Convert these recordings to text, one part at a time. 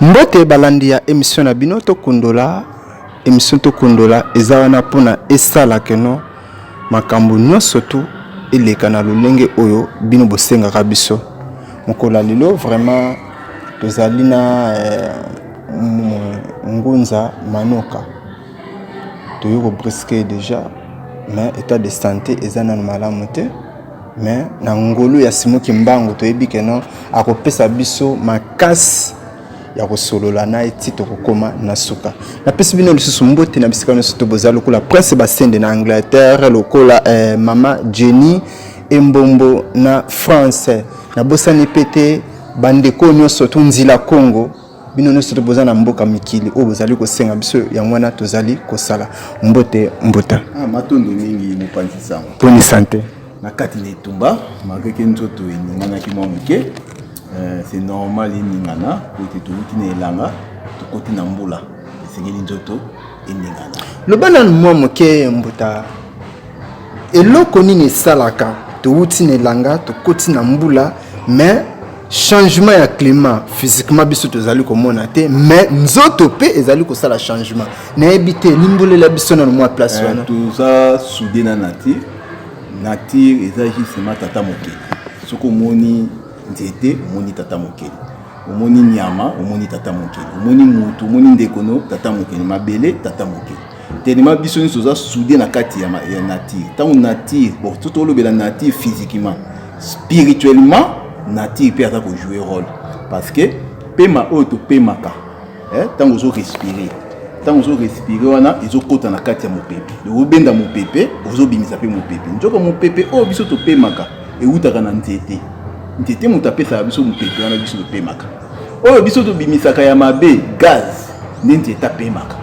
mbote balandi ya émission na bino tokundola émission tokundola eza wana mpona esala keno makambo nyonso tu eleka na lolenge oyo bino bosengaka biso mokolo ya lelo vraiment Tozali na eh, ngunza manoka toyei kobriske deja mais état de santé eza nano malamu te mais na ngolu ya simo kimbangu toyebi keno akopesa biso makasi ya kosolola na ye ti tokokoma na suka napesi bino lisusu mbote na bisika nyonso to boza lokola prince basende na angleterre lokola eh, mama jenny embombo na france nabosani mpe te Bandeko nyonso to nzila Congo bino nyonso to boza na mboka mikili oyo bozali kosenga biso yango wana tozali kosala mbote mbuta ah, matondo mingi mopanzi sango boni sante na kati na etumba malgre ke nzoto eninganaki mwa moke euh, c'est normal eningana po ete touti na elanga tokoti na mbula esengeli nzoto eningana loba nanu mwa moke mbuta Eloko nini esalaka towuti na elanga tokoti na mbula mais changement ya climat physiquement biso tozali komona te mais nzoto mpe ezali kosala changement nayebi te limbolela biso nano mwa place eh, wana toza soude na nature nature eza justement tata mokeli soki omoni nzete omoni tata mokeli omoni nyama omoni tata mokeli omoni motu omoni ndekono tata mokeli mabele tata mokeli telema biso nyonso oza soude na kati ya, ya nature ntango nature bon to tolobela nature physiquement spirituellement nature mpe aza kojoue role parce que pema oyo topemaka ntango eh, ozo respire ntango ozo respire wana ezokota na kati ya mopepe obenda mopepe ozobimisa mpe mopepe nzoka mopepe oyo biso topemaka ewutaka na nzete nzete moto apesaka biso mopepe wana biso topemaka oyo biso tobimisaka ya mabe gaz nde nzete apemaka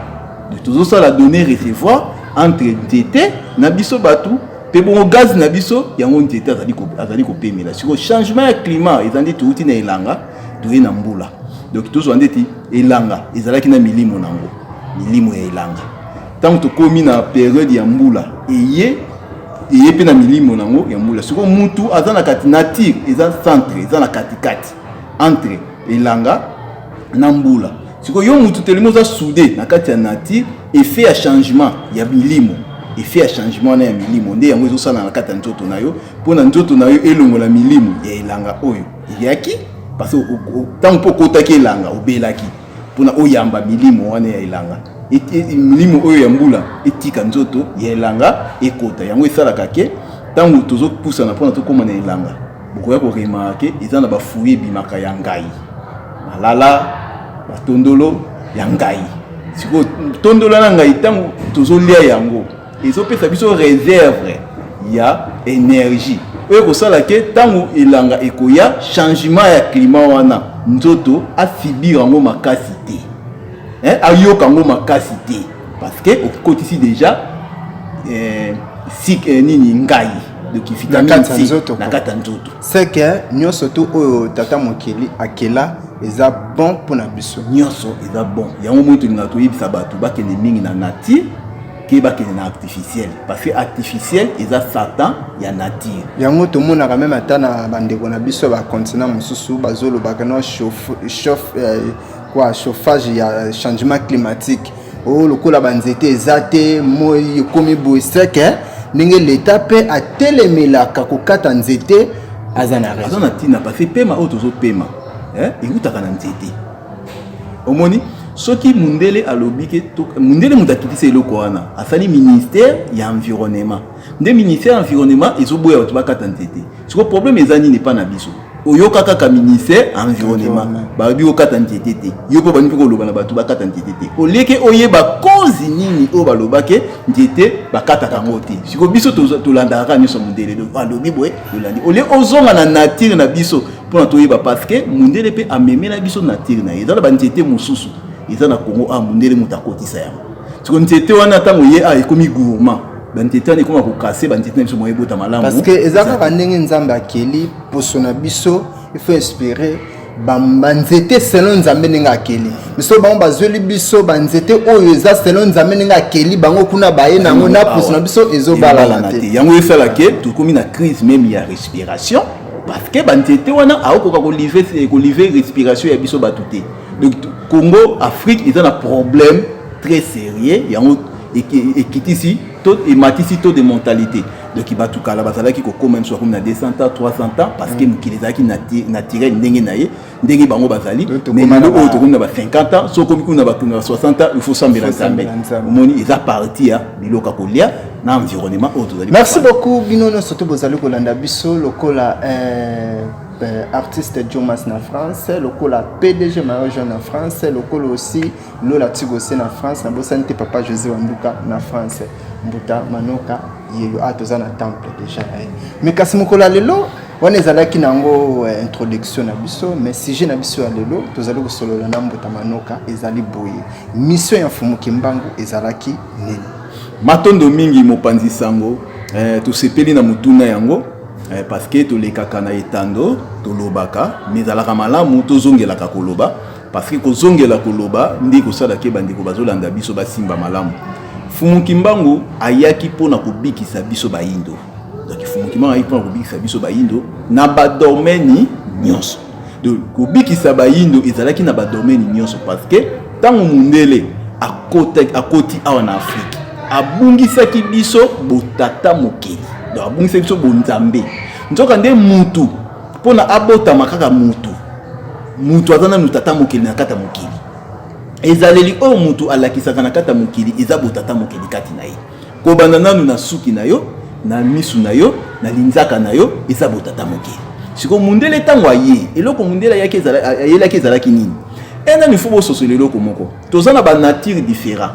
tozosala donner recevoir entre nzete na biso bato mpe bongo gaz na biso yango nzete azali kopemela siko changement ya climat eza nde touti na elanga toye na mbula donc tozwa ndeti elanga ezalaki na milimo na yango milimo ya elanga ntango tokómi na periode ya mbula eye eye mpe na milimo na yango ya mbula siko mutu aza na kati nature eza centre eza na katikati entre elanga na mbula sikoyo yo mutu telemi oza soude na kati ya nature effet ya changement ya milimo effet ya changement wana ya milimo nde yango ezosala na kati ya nzoto na yo mpo na nzoto na yo elongola milimo ya elanga oyo eyaki parce ntango mpo okotaki elanga obelaki mpona oyamba milimo wana ya elanga e, e, e, milimo oyo ya mbula etika nzoto ya elanga ekota yango esalaka ke ntango tozopusana mpona tokóma na elanga bokoya ko remarke eza na bafuyi ebimaka ya ngai malala batondolo ya ngai sikoyo tondola na ngai ntango tozolia yango ezopesa biso reserve ya energie oyo ekosala ke ntango elanga ekoya changement ya klima wana nzoto asibir yango makasi te eh, ayoka yango makasi te parce que okotisi déjà eh, sik eh, nini ngai de kifita na kati nzoto na kati nzoto c'est que nyoso tout oyo tata mokeli akela eza bon pour na biso nyoso eza bon yango moi tolinga toyebisa bato bakende mingi na nature ke bakende na artificiel parce que artificiel eza satan ya nature yango tomonaka meme ata na bandeko na biso ya bacontinent mosusu bazolobaka no chauffe, chauffe euh, kwa chauffage ya changement climatique oyo oh, lokola banzete eza te moi ekomi boye seke eh? ndenge leta mpe atelemelaka kokata nzete aza na raison na ntina parce pema oyo tozopema eh, ewutaka na nzete omoni soki mundele alobi ke mundele moto atutisa eloko wana asali ministère ya environnement nde ministère ya environnement ezoboya bato bakata nzete siko problème eza nini epa na biso oyoka kaka ministère ya environnement bayebi okata nzete te yo mpe baningi koloba na bato bakata nzete te oleke oyeba kozi nini oyo balobake nzete bakataka yango te siko biso tolandaka kaka nyonso mondele alobi boye olandi olie ozonga na nature na biso mpona toyeba parce que mondele mpe amemela biso nature na ye eza na banzete mosusu eza na congo a ah, mondele moto akotisa yango siko nzete wana ntango ye a ah, ekomi gourmand banzete wana ekoma kokase banzete na biso moya ebota malamu parce que eza kaka ndenge nzambe akeli poso na biso il faut inspire banzete selon nzambe ndenge akeli biso bango bazweli biso banzete oyo eza selon nzambe ndenge akeli bango kuna baye na yango na poso na biso ezobalana te yango esala ke tokomi na crise meme ya respiration parce que banzete wana aokoka kolivre respiration ya biso bato te donc congo afrique eza na problème très sérieux yango ekitisi to ematisi to de mentalité donc bato kala bazalaki kokoma biso bakomi na 200 ans 300 ans parce que mm. mokili ezalaki naturel ndenge na ye ndenge bango bazali mais lelo oyo tokomi na ba 50 ans soki okomi kuna bato na ba 60 ans il faut sambela nzambe omoni eza parti ya biloko ya kolia na environnement oyo tozali merci beaucoup bino nyonso to bozali kolanda biso lokola euh, euh, artiste jomas na france lokola pdg mario jean na france lokola aussi Lola Tigose na France, na bosani te papa Jose Wanduka na France. Mbuta Manoka yeyo a ah, toza na temple deja na ye. Mais kasi mokolo ya lelo wana ezalaki na yango eh, introduction na biso mais sujet na biso ya lelo tozali kosolola na Mbuta Manoka ezali boye. Mission ya Mfumu Kimbangu ezalaki nini? Matondo mingi mopanzi sango. Eh, tosepeli na motuna yango eh, parce que tolekaka na etando tolobaka mais ezalaka malamu tozongelaka koloba Parce que kozongela koloba nde kosala ke bandeko bazolanda biso basimba malamu. Fumu Kimbangu ayaki mpo na kobikisa biso bayindo. Donc Fumu Kimbangu ayaki mpo na kobikisa biso bayindo na badomeni nyonso. Donc kobikisa bayindo ezalaki na badomeni nyonso parce que ntango mundele akotaki akoti awa na Afrique abungisaki biso botata mokeli donc abungisaki biso bonzambe nzoka nde mutu mpo na abotama kaka mutu moto aza nanu tata mokili na kati ya mokili ezaleli oyo moto alakisaka na kati ya mokili eza botata mokili kati na ye kobanda nanu na suki na yo na misu na yo na linzaka na yo eza botata mokili sikoyo mundele ntango aye eloko mundele ayaki ayelaki ezalaki nini ena nifo bososola eloko moko toza na banature différent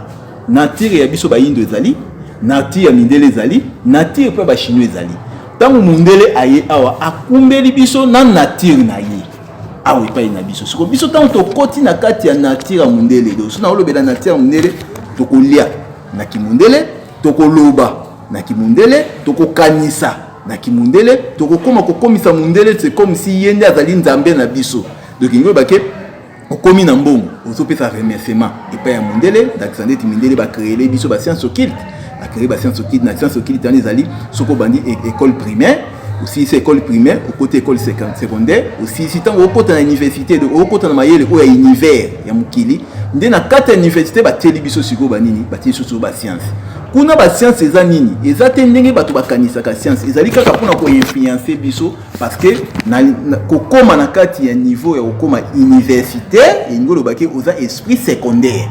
Nature ya biso bayindo ezali, nature ya mindele ezali, nature mpe bachinois ezali. Ntango mondele aye awa akumbeli biso na nature na ye awa epai na biso siko biso ntango tokoti na kati ya nature ya mondele do so naolobela nature ya mondele tokolia na kimondele tokoloba na kimondele tokokanisa na kimondele tokokoma kokomisa mondele se comme si ye nde azali nzambe na biso donc ingoyebake okomi na mbongo ozopesa remerciement epai ya mondele ndakisa ndeti mindele bacreele biso bascience occulte bacree bascience occulte na science occulte wana ezali soki obandi e-, école primaire osilisi école primaire okoti école secondaire osilisi ntango okota na université donc okota na mayele oyo ya univers ya mokili nde na kati ya université batieli biso sikoyo banini batieli biso sikoyo bascience kuna bascience eza nini eza te ndenge bato bakanisaka science ezali kaka mpona koinfluence biso parce que na, na, kokoma na kati ya niveau ya kokoma universitaire elingi oloba ke oza esprit secondaire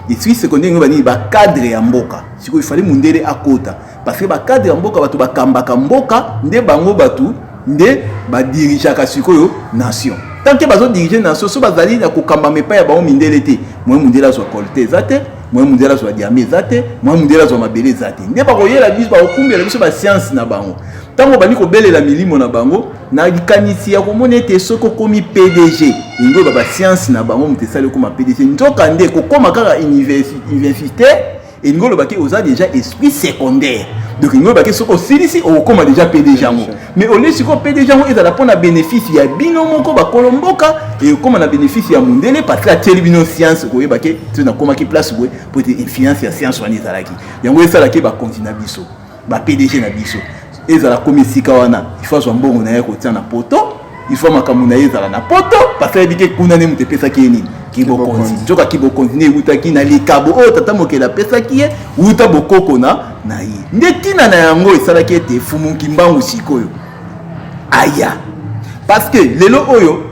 esprit secondaire elingi oloba nini bacadre ya mboka sikoyo ifali mundele akota parce que bacadre ya mboka bato bakambaka mboka nde bango bato nde badirigeaka sikoyo nation tant ke bazodirige nation so bazali na kokambama epai ya bango mindele te moye mundele azwa kole te eza te moye mundele azwa diame eza te moye mundele azwa mabele eza te nde bakoyela biso bakokumbela biso basianse na bango ntango obandi kobelela milimo na bango na likanisi ya komona ete soki okomi pdg yango eba basianse na bango moto esali okoma pdg nzoka nde kokoma kaka université elingi oloba te oza déjà esprit secondaire donc elingi oloba te soki osilisi okokoma déjà pdg yango mais olie sikoyo pdg yango ezala mpo na bénéfice ya bino moko bakolo mboka ekokoma na bénéfice ya mondele parce que atieli bino science koyeba ke to nakomaki place boye mpo ete influence ya science wana ezalaki yango esalaki bakonzi na biso ba pdg na biso ezala komi esika wana ifo azwa mbongo na ye kotia na poto ifo makambo na ye ezala na poto parce ayebi te kuna nde moto epesaki ye nini kibokonzi nzoka kibokonzi nde ewutaki na likabo oyo tata mokeli apesaki ye wuta bokoko na na ye nde ntina na yango esalaki ete fumu nkimbangu sikoyo aya parce que lelo oyo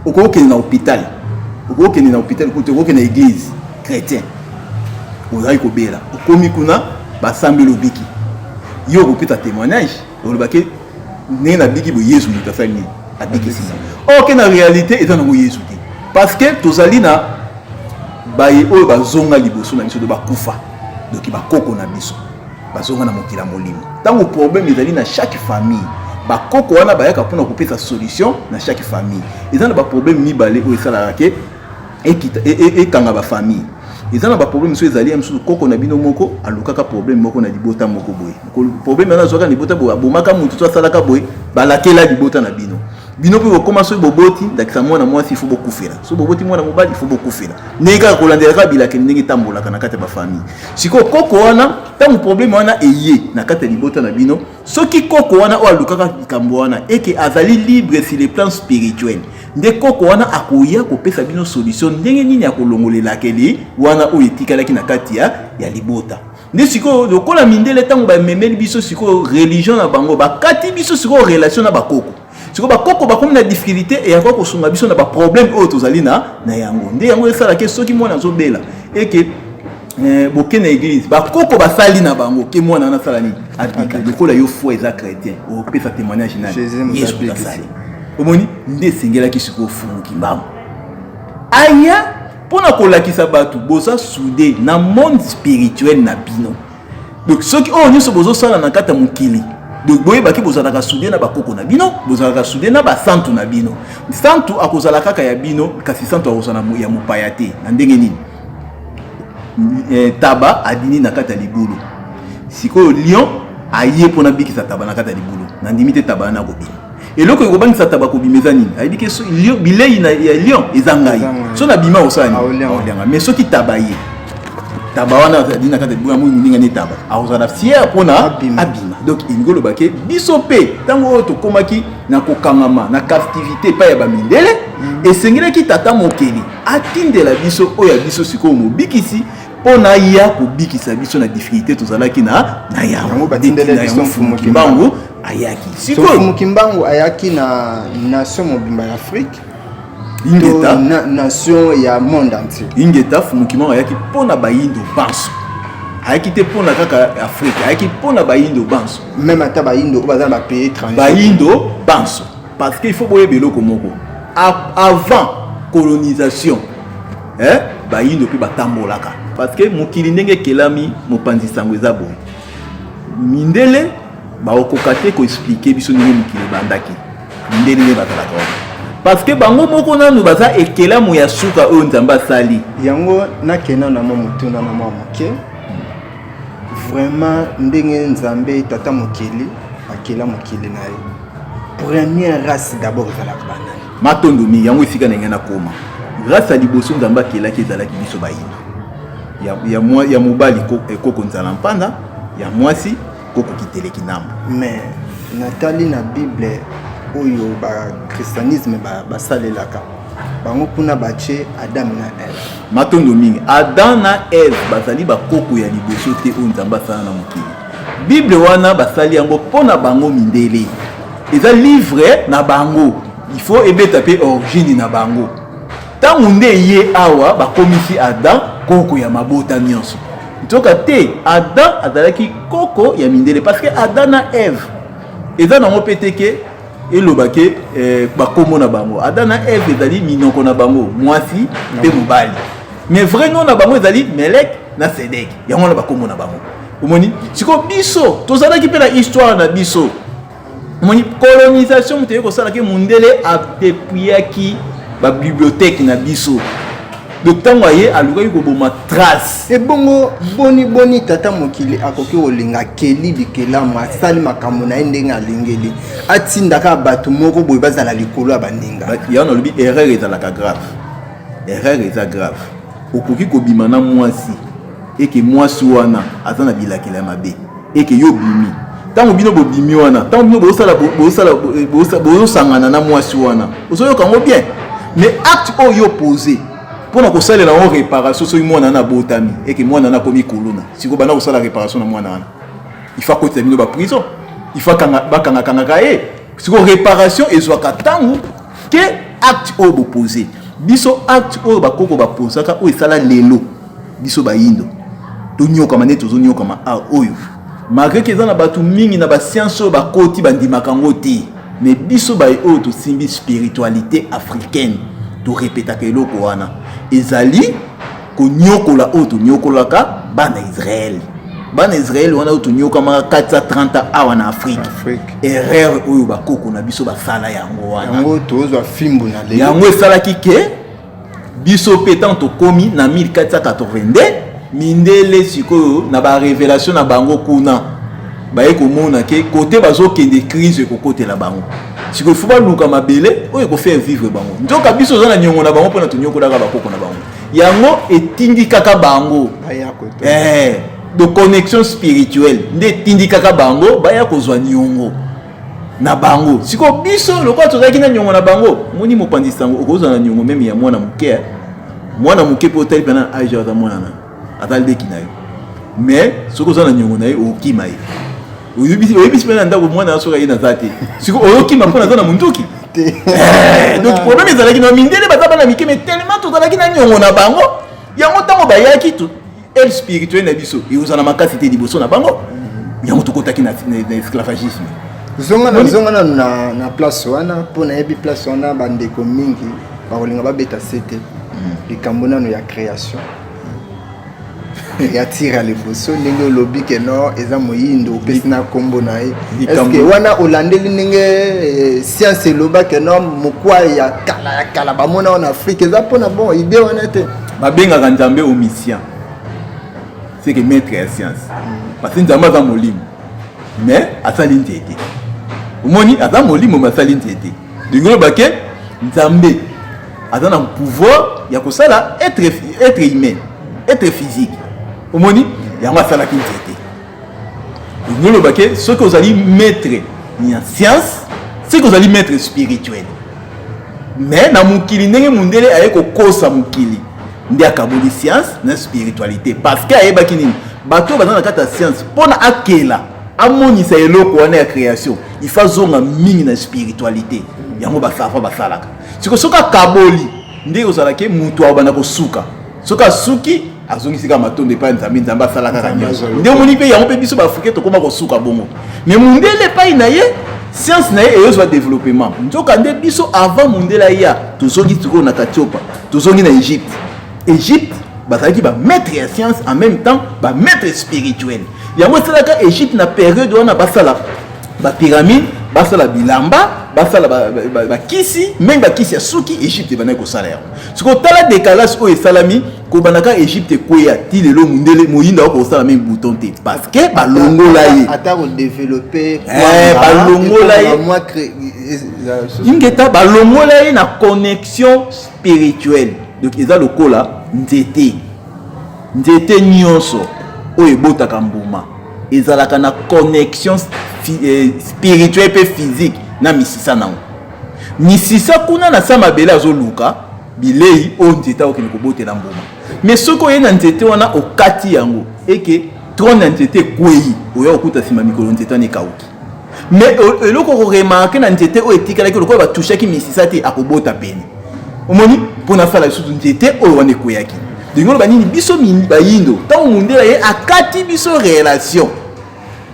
okokende na hôpital okokende na hôpital kutu okokende na église chrétien ozali kobela okomi kuna basambeli obiki yo okopesa témoignage olobaki ndenge nabiki boye yesu moto asali nini abikisi nga oke na réalité eza nango yesu te parce que tozali na baye oyo bazonga liboso na biso to bakufa doki bakoko na biso bazonga na mokili ya molimo ntango problème ezali na chaque famille bakoko wana bayaka mpona kopesa solution na chaque famille eza na baproblème mibale oyo esalaka ke ekita e, e, ekanga ba famille eza na ba problème mosusu ezali ya mosusu koko na bino moko alukaka problème moko na libota moko boye problème wana azwaka na libota boye abomaka motu to asalaka boye balakela libota na bino bino mpe bokoma soki boboti ndakisa mwana mwasi ifo bokufela soki boboti mwana mobali ifo bokufela ndenge kaka kolandelaka bilakeli ndenge etambolaka na kati ya bafamille sikoyo koko wana ntango probleme wana eye na kati ya libota na bino soki koko wana oyo alukaka likambo wana eke azali libre sur le plan spirituel nde koko wana akoya kopesa bino solution ndenge nini akolongolelakeli wana oyo etikalaki na kati ya, ya libota nde sikoyo lokola mindele ntango bamemeli biso sikoyo religion na bango bakati biso sikoyo relation na bakoko sikoyo bakoko bakomi na difficulté eyaka kosunga biso na baproblème oyo tozali na na yango nde yango esalaki soki mwana azobela eke eh, boke na église bakoko basali na bango ke mwana wana asala nini abika lokola yo foi eza chrétien opesa témoignage na yesu asali omoni nde esengelaki sikoyo ofunguki mbango aya mpo na kolakisa bato boza soude na monde spirituel na bino donc soki oyo nyonso bozosala na kati ya mokili donc boyebaki bozalaka sude na bakoko na bino bozalaka sude na basantu na bino santu akozala kaka ya bino kasi santu akozala ya mopaya te na ndenge nini eh, taba adini na kati ya libulu sikoyo lion aye mpo nabikisa taba na kati ya libulu nandimi te taba wana akobima eloko ekobangisa taba kobima eza nini ayebi ke bilei ya lion eza ngai so na bima osala nini aolianga mais soki taba ye taba wana azali na kati ya libula moi moninga ne taba akozala fiere mpona abima donc elingi oloba ke biso mpe ntango oyo tokomaki na kokangama na captivité epai ya bamindele mm. esengelaki tata mokeli atindela biso oyo ya biso sikoyo mobikisi mpo na ya kobikisa biso na difficulté tozalaki na na yango batindela biso mfumu kimbangu ayaki sikoyo mfumu kimbangu ayaki na nation mobimba ya afrique ingeta na, nation ya monde entier ingeta mfumu kimbangu ayaki mpo na bayindo banso ayaki te mpo na kaka afrique ayaki mpo na bayindo banso meme ata bayindo oyo baza na bapays étranger bayindo banso parce que il faut boyeba eloko moko avant colonisation eh, bayindo mpe batambolaka parce que mokili ndenge ekelami mopanzi sango eza boye mindele bakokoka te koexplike biso ndenge mokili ebandaki mindele nde bazalaka wana parce que bango moko nanu baza ekelamo ya suka oyo nzambe asali yango nakenda na mwa motuna na mwa moke Vraiment ndenge nzambe tata mokeli akela mokili na ye première race d'abord ezalaka banani matondo mingi yango esika na ngai nakoma race ya liboso nzambe akelaki ezalaki biso bayina ya, ya, mwa, ya mobali eh, koko nzala mpanda ya mwasi koko kiteleki ndambo mais natali na bible oyo bakristianisme basalelaka ba bango kuna batye adam na eve matondo mingi adam na eve bazali bakoko ya liboso te oyo nzambe asala na mokili bible wana basali yango mpo na bango mindele eza livre na bango ifo ebeta mpe origine na bango ntango nde ye awa bakomisi adam koko ya mabota nyonso nzoka te adam azalaki koko ya mindele parce que adam na eve eza nango mpe te ke eloba ke eh, bakombo na bango ada na eve ezali minoko na bango mwasi mpe mobali mais vrai nom na bango ezali melek na sedek yango wana bakombo na bango omoni sikoyo biso tozalaki mpe na histoire na biso omoni colonisation moto eye kosalaki mondele apepuyaki babibliothèque na biso donc ntango aye alukaki koboma trace ebongo boni boni tata mokili akoki kolinga keli bikelamu asali makambo na ye ndenge alingeli atindaka bato moko boye bazala likolo ya baninga yango nalobi erreur ezalaka grave erreur eza grave okoki kobima na mwasi eke mwasi wana aza na bilakela ya mabe eke yo bimi ntango bino bobimi wana ntango bino bozosala bozosala bozosangana na mwasi wana ozoyoka yango bien mais acte oyo yo pose mpo na kosalela yango réparation soki mwana wana abotami eke mwana wana akomi kuluna sikoyo banda kosala réparation na mwana wana ifa akotisa bino baprison ifa bakangakangaka ye sikoyo réparation ezwaka ntango te acte oyo bopose biso acte oyo bakoko baposaka oyo esala lelo biso bayindo tonyokama nde tozonyokama a oyo malgre ke eza na bato mingi na basianse oyo bakoti bandimaka yango te me biso baye oyo tosimbi spiritualité africaine torepetaka eloko wana ezali konyokola oyo tonyokolaka bana israele bana israele wana oyo tonyokamaka 430 awa na afrike erreur oyo bakoko na biso basala yango wana yango esalaki ke biso mpe ntango tokomi na 1482 mindele sikoyo na barevelation na bango kuna baye komona ke kote bazokende crise ekokotela bango sikoyo fo baluka mabele oyo ekofaire vivre bango nzoka biso oza na niongo na bango mpona tonyokolaka bakoko na bango yango etindikaka bango eh, de connexion spirituelle nde etindikaka bango baya kozwa niongo na bango sikoyo biso lokola tozalaki na nyongo na bango moni mopanzi sango okozala na nyongo meme ya mwana moke eh? mwana moke mpe otali mpe na age aza mwana na aza leki na yo mais soki oza na nyongo na ye okima ye oyebisi mpe na ndako mwana ya soki aye naza te sikoyo oyokima mpo naza na monduki eh, donc problème ezalaki na mindele baza bana mike mais tellement tozalaki na nyongo na bango yango ntango bayaki aide spirituelle na biso ekozala makasi te liboso na bango yango tokotaki na esclavagisme zonga na zonga nanu na, na place wana mpo nayebi place wana bandeko mingi bakolinga babeta sete hmm. likambo nano ya création ya tira liboso ndenge olobi ke no eza moyindo opesi na nkombo na ye eske wana olandeli ndenge eh, science eloba ke no mokwa ya kala ya kala bamona wana afrika eza mpona bon ide wana te babengaka nzambe omniscient seke maître ya science parce que nzambe aza molimo mais asali nzete omoni aza molimo mais asali nzete ndenge oloba ke nzambe aza na pouvoir ya kosala être, être humain être physique omoni yango asalaki nzete noloba ke soki ozali maître ya science soki ozali maître spirituel mais na mokili ndenge mondele aye kokosa mokili nde akaboli science na spiritualité parce que ayebaki nini bato oyo baza na kati ya science mpo na akela amonisa eloko wana ya création il faut azonga mingi na spiritualité yango basafa basalaka siko soki akaboli nde ozalaki moto akobanda kosuka soki asuki azongisi kaka matondo epai nzambe nzambe asala kaka nyonso nde omoni mpe yango mpe biso baafrike tokoma kosuka bongo me mondele epai na ye science na ye eyozwa développement nzoka nde biso avant mondele aya tozongi sikoyo na katiopa tozongi na egypte egypte bazalaki bamaître ya science en même temps bamaître spirituel yango esalaka egypte na periode wana basala bapyramide basala bilamba basala bakisi meme bakisi ya suki egypte ebandaki kosala yango sikoyo tala décalage oyo esalami kobanda ka egypte ekweya ti lelo mundele moyinda oko kosala meme bouton te parce que balongola ye ata kodevelope eh, balongola ye ingeta balongola ye na connexion spirituelle donc eza lokola nzete nzete nyonso oyo ebotaka mbuma ezalaka na connexion eh, spirituelle mpe physique na misisa nango misisa kuna na sa mabele azoluka bilei oyo nzete akokende kobotela mbuma me soki oyei na nzete wana okati yango eke trone ya nzete ekwei oya kokuta nsima mikolo nzete wana ekauki me eloko okoremarke na nzete oyo etikalaki lokola batushaki misisa te akobota pene omoni mpo na sala lisusu nzete oyo wana ekweyaki ndenge oloba nini biso bayindo ntango mondela ye akati biso relation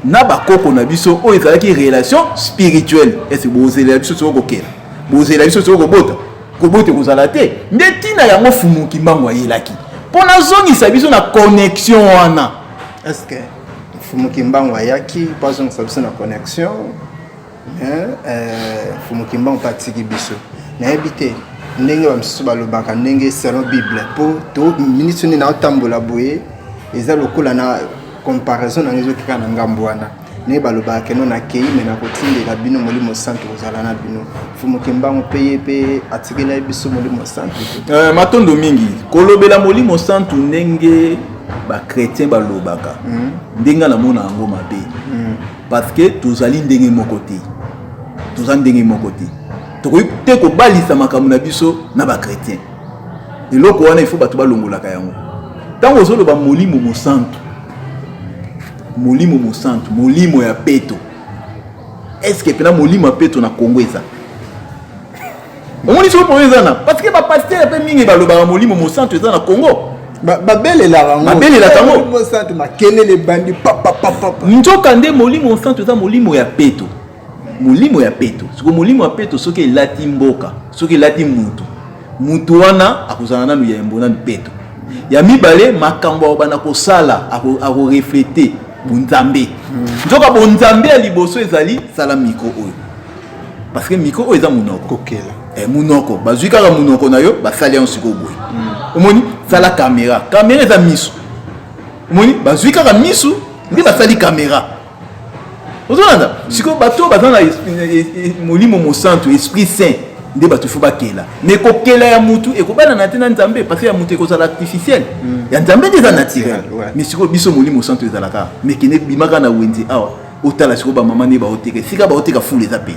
na bakoko na biso oyo ezalaki relation spirituelle ese bozelela biso soki kokela bozelela biso soki kobota kobote kozala te nde ntina yango fumu kimbangu ayelaki mpo nazongisa biso na connexion wana eske fumu kimbangu ayaki mpo azongisa biso na connexion eh, fumu kimbangu mpe atiki biso nayebi te ndenge bamisusu balobaka ndenge selon bible mpo to miniti nini naotambola boye eza lokola na comparaison na ngai ezokika na ngambo wana naye balobaka keno nakei me nakotindela bino molimo santu kozala na bino mfumu kimbangu mpe ye mpe atikelai biso molimo santu uh, matondo mingi kolobela molimo santu ndenge bachrétien balobaka mm. ndenge namona yango mabe mm. parce que tozali ndenge moko te toza ndenge moko te tokoki te kobalisa makambo na biso na bachrétien eloko wana ifo bato balongolaka yango ntango ozoloba molimo mosantu Molimo Mosantu, molimo ya peto. Est-ce que pena molimo ya peto na Congo eza? Omoni soko problème eza na parce que ba pasteur pe mingi balobaka molimo Mosantu eza na Congo. babelelaka babelelaka ngo santu makelele ebandi papapapapa nzoka nde molimo santu eza molimo ya peto molimo ya peto siko molimo ya peto soki elati mboka soki elati mutu mutu wana akozala nanu ya yambo nanu peto ya mibale makambo akobanda kosala akoreflete bonzambe hmm. nzoka bonzambe ya liboso ezali sala mikro oyo parce que mikro oyo eza monoko kokela eh, monoko bazwi kaka monoko na yo basali yango sikoyo boye hmm. omoni sala kamera kamera eza miso omoni bazwi kaka miso nde basali kamera ozolanda sikoyo bato oyo baza na molimo mosantu esprit saint nde bato fo bakela mais kokela ya mutu ekobanana te na nzambe parce ya mutu ekozala artificiel hmm. ya nzambe nde eza naturel mais sikoyo biso molimo mosantu ezalaka mais kende bimaka na wenze awa otala sikoyo bamama nde baoteka esika baoteka fulu eza pei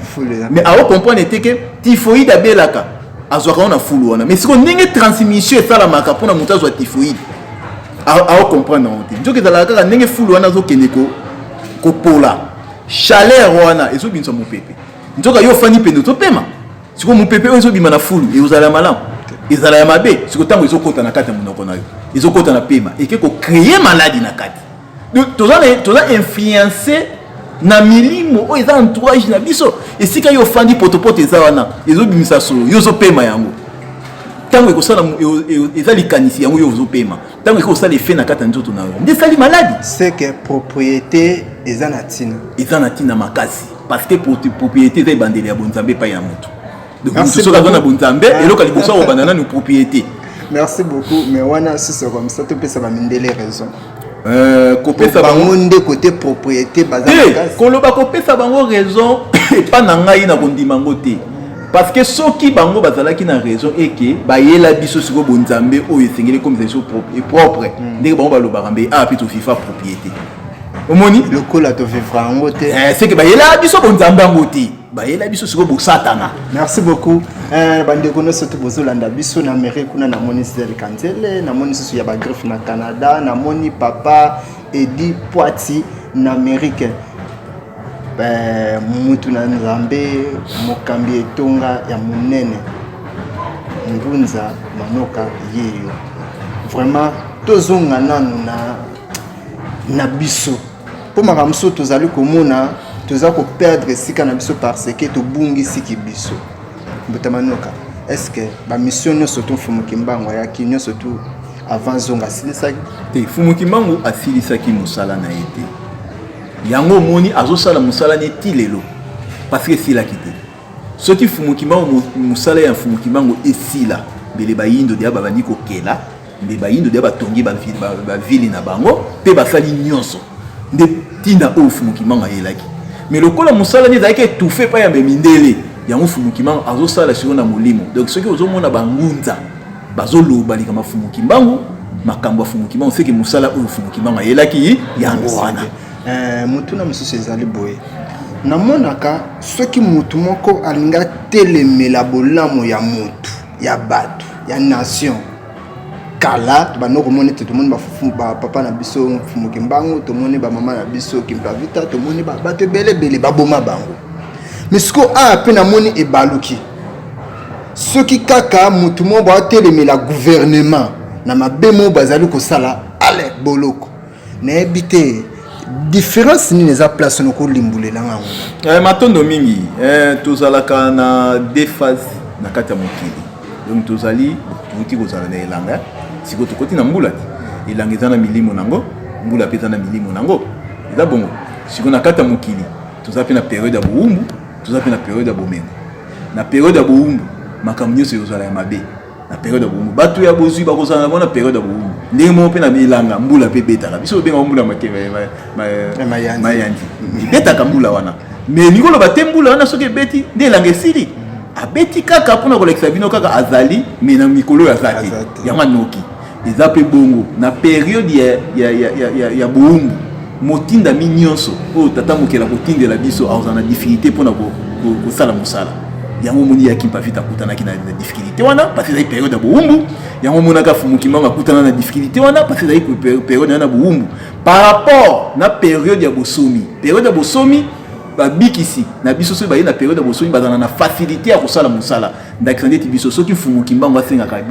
mais ao comprendre ete ke tifoide abelaka azwaka ngo na fulu wana mais sikoyo ndenge transmission esalamaka mpona moto azwa tifoide ao comprendre yango te nzoki ezalaka kaka ndenge fulu wana azokende ko kopola chaleur wana ezobimisa mopepe nzoka yo ofandi pene ozopema sikoyo mopepe oyo ezobima na fulu ekozala ya malamu ezala ya mabe sikoyo ntango ezokota na kati ya monoko na yo ezokota na pema eke kocreye maladi na kati toza influence na milimo oyo eza entourage na biso esika yo ofandi potopoto eza wana ezobimisa solo yo ozopema yango ntango ekosala eza likanisi yango yo ozopema ntango ekoki kosala efe na kati ya nzoto na yo nde esali maladi seke propriété eza na ntina eza na ntina makasi parce que propriété eza ebandeli ya bonzambe epai ya moto donc moto soki aza na bonzambe ah. eloko ya liboso akobanda nanu propriété merci beaucoup mais wana sisoko misa topesa bamindele raison Euh, kopesa bango nde kote propriété baza koloba kopesa bango raison epa na ngai na kondima yango te parce que soki bango bazalaki na raison eke bayela biso sikoyo bonzambe oyo esengeli ekomisa biso propre hmm. ndenge bango balobaka mbe awa ah, mpe tofifa propriété omoni lokola tovivra yango te eh, seke bayela biso bonzambe yango te bayela biso sikoyo bosatana merci beaucoup eh, bandeko nyonso to bozolanda biso na mere kuna namoni zidel kanzele namoni lisusu ya bagriffe na canada namoni papa edi poiti na amerike eh, mutu na nzambe mokambi etonga ya monene ngunza manoka yeyo vraiment tozonga nanu na, na biso Mpo makambo mosusu tozali komona toza koperdre esika na biso parce que tobungisiki biso mbutamanoka est ce que bamisio nyonso tu mfumu kimbangu ayaki nyonso tu avant zongo asilisaki te mfumu kimbangu asilisaki mosala na ye te yango omoni azosala mosala ne ti lelo parce que esilaki te soki mfumu kimbangu mosala ya mfumu kimbangu esila mbele bayindo deya babandi kokela nde bayindo deya batongi bavili na bango mpe basali nyonso nde ntina oyo mfumu kimbangu ayelaki me lokola mosala nde ezalaki etufe epai ya bemindele yango mfumu kimbangu azosala sikoyo na molimo donc soki ozomona bangunza bazoloba likambo ya mfumu kimbangu makambo ya mfumu kimbangu seke mosala oyo mfumu kimbangu ayelaki yango wana Eh, motuna mosusu ezali boye namonaka soki motu moko alingi atelemela bolamu ya motu ya bato ya nation kala tobanda komona ete tomoni bapapa na biso mfumu kimbangu tomoni bamama na biso kimpavita tomoni bato ebele ebele baboma bango misiko aya ah, mpe namoni ebaluki soki kaka motu moko baatelemela guvernema na mabe moko bazali kosala ale boloko nayebi te différence nini eza place wana kolimbolela nga yango eh, matondo mingi eh, tozalaka na deux phase na kati ya mokili donc tozali touti kozala na elanga sikoyo tokoti na mbula te elanga eza na milimo nango mbula mpe eza na milimo nango eza bongo sikoyo na kati ya mokili toza mpe na periode ya bowumbu toza mpe na periode ya bomengo na periode ya bowumbu makambo nyonso ekozala ya mabe na periode ya bowumbu bato ya bozwi bakozala nango na periode ya bowumbu ndenge moko mpe na bilanga mbula mpe ebetaka biso obengaka mbula mayandi ebetaka mbula wana mais lingi oloba te mbula wana soki ebeti nde elanga esili abeti kaka mpona kolakisa bino kaka azali mais na mikolo oyo aza te yango anoki eza mpe bongo na periode ya, ya, ya, ya, ya, ya boumbu motindami nyonso oyo tata mokeli akotindela biso akozala na difikilte mpo na kosala mosala yango omoni ya kimpavita akutanaki na difikilte wana parce ezali periode ya boumbu yango omonaka fumukimanga akutana na difikilte wana parce ezali periode wana ya boumbu par rapport na periode ya bosomi periode ya bosomi babikisi na biso soki baye na periode ya bosomi bazala na facilité ya kosala mosala ndakisa ndeti biso soki mfumu kimbangu afingaka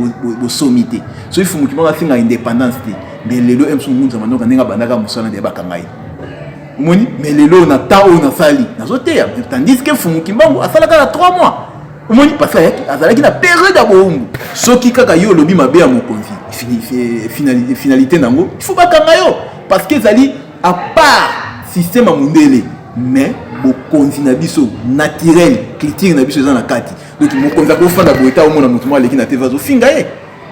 bosomi te soki mfumu kimbangu afingaka indépendance te mais lelo msu ngunza manyoka ndenge abandaka mosala nde bakanga ye omoni mais lelo na temps oyo nasali nazoteya tandis ke mfumu kimbangu asalaka na 3 mois omoni parce ayaki azalaki na periode ya boumbu soki kaka yo olobi mabe ya mokonzi finalité na yango il faut bakanga yo parce que ezali à part système ya mondele mais bokonzi na biso naturel culture na biso eza na kati donc mokonzi akofanda boye ta omona moto moko aleki na tv azofinga ye